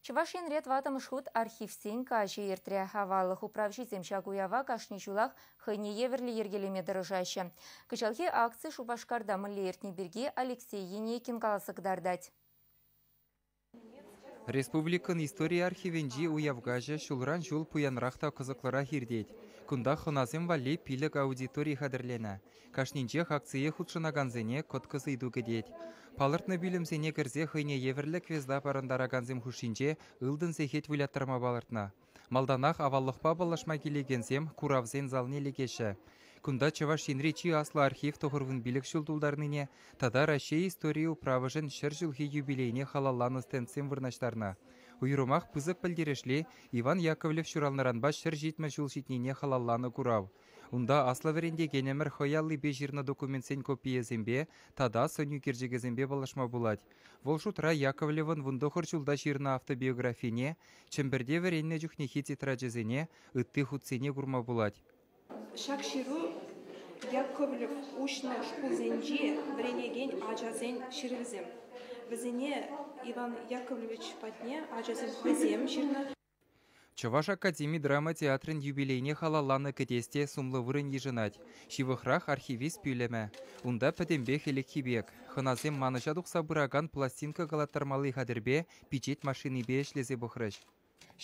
Чӑваш Енре тӑваттӑмӗш хут архивсен каҫӗ иртрӗ. Аваллӑх управҫисем ҫак уява кашни ҫулах хӑйне евӗрлӗ йӗркелеме тӑрӑшаҫҫӗ. Кӑҫалхи акци Шупашкарта мӗнле иртни пирки Алексей Енейкин каласа кӑтартать. Республикӑн истори архивӗнчи уяв каҫӗ ҫулран ҫул пуянрах та кӑсӑклӑрах иртет. Кунта хӑнасем валли пилӗк аудитори хатӗрленӗ. Кашнинчех акцие хутшӑнакансене кӑткӑс ыйту кӗтет. Палӑртнӑ пӳлӗмсене кӗрсе хӑйне евӗрлӗ квеста парӑнтаракансем хушшинче ылтӑн сехет выляттарма палӑртнӑ. Малтанах аваллӑхпа паллашма килекенсем куравсен залне лекеҫҫӗ. Кунта Чӑваш Енри чи аслӑ архив тӑхӑрвун пилӗк ҫул тултарнине тата Раҫҫей историйӗ управӑшӗн ҫӗр ҫулхи юбилейне халалланӑ стендсем вырнаҫтарнӑ. Уйрӑмах пысӑк пӗлтерӗшли Иван Яковлев ҫуралнӑранпа ҫӗр ҫитмӗл ҫул ҫитнине халалланӑ курав. Унта аслӑ вӗрентекенӗмӗр хӑй аллипе ҫырнӑ документсен копийӗсемпе тата сӑн ӳкерчӗкӗсемпе паллашма пулать. Вӑл шутра Яковлевӑн вун тӑхӑр ҫулта ҫырнӑ автобиографине, Чӗмпӗрте вӗреннӗ чухнехи тетрадьчӗсене, ытти хутсене курма пулать. Ҫак ҫыру Яковлев уҫнӑ шкулсенчи вӗренекен ачасен ҫырӑвӗсем. Вӗсене Иван Яковлевич патне ачасем хӑйсем ҫырнӑ. Чӑваш академи драма театрӗн юбилейне халалланӑ кӗтес те сумлӑ вырӑн йышӑнать. Ҫывӑхрах архивист пӳлӗмӗ. Унта пӗтӗмпех ӗлӗкхи пек. Хӑнасем манӑҫа тухса пыракан пластинка калаттармалли хатӗрпе, пичет машинипе ӗҫлесе пӑхрӗҫ.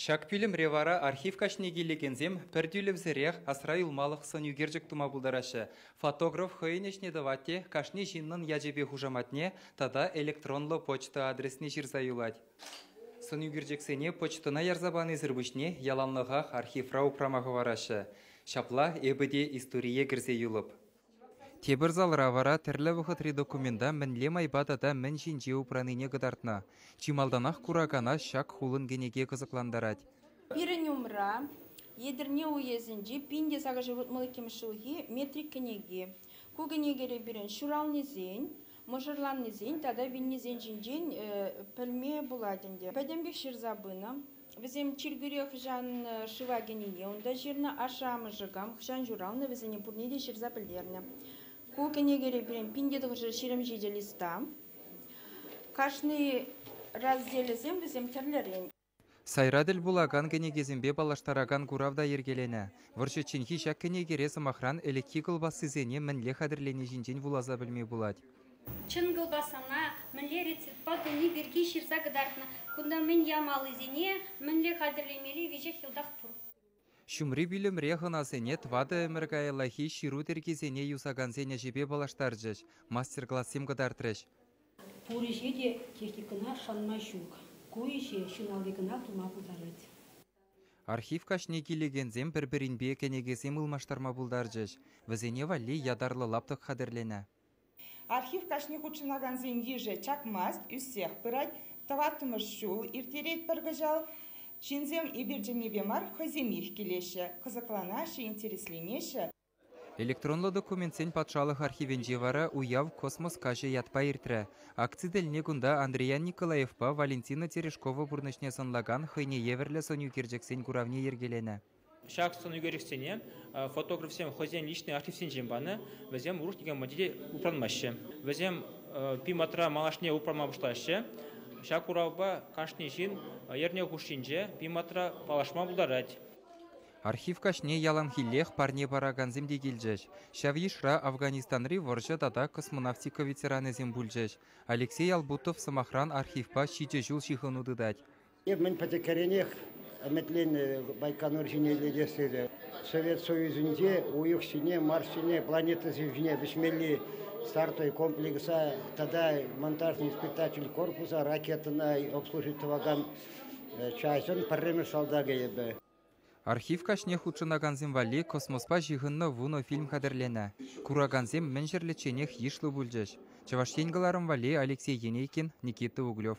Ҫак пӳлӗмре вара архив каҫне килекенсем пӗр тӳлевсӗрех асра юлмалӑх сӑнӳкерчӗк тума пултараҫҫӗ. Фотограф хӑйӗн ӗҫне тӑвать те кашни ҫыннӑн ячӗпе хушаматне тата электронлӑ почта адресне ҫырса юлать. Сӑнӳкерчӗксене почтӑна ярса панисӗр пуҫне яланлӑхах архивра упрама хӑвараҫҫӗ. Ҫапла эпӗ те историе кӗрсе юлӑп. Тепӗр залра вара тӗрлӗ вӑхӑтри документа мӗнле майпа тата мӗн ҫинче упранине кӑтартнӑ. Чи малтанах куракана ҫак хулӑн кӗнеке кӑсӑклантарать. Пирӗн умра Етӗрне уесӗнчи пин те сакӑрҫул утмӑл иккӗмӗш ҫулхи метрик кӗнеки. Ку кӗнекере пирӗн ҫуралнисен, мӑшӑрланнисен тата вилнисен ҫинчен пӗлме пулать ӗнтӗ. Пӗтӗмпех ҫырса пынӑ. Вӗсем чиркӳре хӑҫан шыва кӗнине унта ҫырнӑ, ашшӗ-амӑшӗ кам хӑҫан ҫуралнӑ вӗсене пурне те ҫырса пӗлтернӗ. Ку кӗнекере пирӗн пин тӑхӑрҫӗ ҫирӗм ҫичӗ листа. Кашни разделӗсем вӗсем тӗрлӗрен. Сайра тӗл пулакан кӗнекесемпе паллаштаракан курав та йӗркеленӗ. Вӑрҫӑчченхи ҫак кӗнекере сӑмахран ӗлӗкхи кӑлпассисене мӗнле хатӗрлени ҫинчен вуласа пӗлме пулать. Чӑн кӑлпассана мӗнле рецептпа туни пирки ҫырса кӑтартнӑ. Кунта мӗн ямаллисене, мӗнле хатӗрлемелли веҫех йӑлтах пур. Ҫумри пӳлӗмре хӑнасене тӑватӑ ӗмӗр каяллахи ҫыру тӗркисене юсакансен ӗҫӗпе паллаштарчӗҫ, мастер-классем кӑтартрӗҫ. Пур ӗҫе те техникӑна шанма ҫук. Ку ӗҫе ҫын алли кӑна тума пултарать. Архив каҫне килекенсем пӗр-пӗринпе кӗнекесем ылмаштарма пултарчӗҫ. Вӗсене валли ятарлӑ лаптӑк хатӗрленӗ. Архив каҫне хутшӑнакансен йышӗ чакмасть, ӳссех пырать. Тӑваттӑмӗш ҫул ирттерет пӗр кӑҫал. Ҫынсем эпир чӗннипе мар, хӑйсемех килеҫҫӗ, кӑсӑкланаҫҫӗ, интересленеҫҫӗ. Электронлӑ документсен патшалӑх архивӗнче вара Уяв космос каҫӗ ятпа иртрӗ. Акци тӗлне кунта Андриян Николаевпа Валентина Терешкова пурнӑҫне сӑнлакан хӑйне евӗрлӗ сӑнӳкерчӗксен куравне йӗркеленӗ. Ҫак сӑнӳкерчӗксене фотографсем хӑйсен личный архивсенчен панӑ, вӗсем уруш никам патне те упранмаҫҫӗ. Вӗсем пиmatра малашне упранма пуҫлаҫҫӗ. Ҫак куравпа кашни ҫын эрне хушшинче пиmatра паллашма пултарать. Архив каҫне яланхиллех парне паракансем те килчӗҫ. Ҫав йышра Афганистанри вӑрҫӑ тата космонавтика ветеранӗсем пулчӗҫ. Алексей Албутов, сӑмахран, архивпа ҫичӗ ҫул ҫыхӑну тытать. Эп мӗн пӗчӗккӗренех ӗмӗтленнӗ Байконур ҫине лекес тесе. Совет Союзӗнче уйӑх ҫине, Марс ҫине, планета ҫине вӗҫмелли стартой комплекса тата монтажный испытатель корпуса ракетӑна обслужить тӑвакан частьӑн пӗрремӗш салтакӗ эпӗ. Архив каҫне хутшӑнакансем валли космоспа ҫыхӑннӑ вунӑ фильм хатӗрленӗ. Куракансем мӗн ҫӗрлечченех йышлӑ пулчӗҫ. Чӑваш Ен кӑларӑм валли Алексей Енейкин, Никита Углев.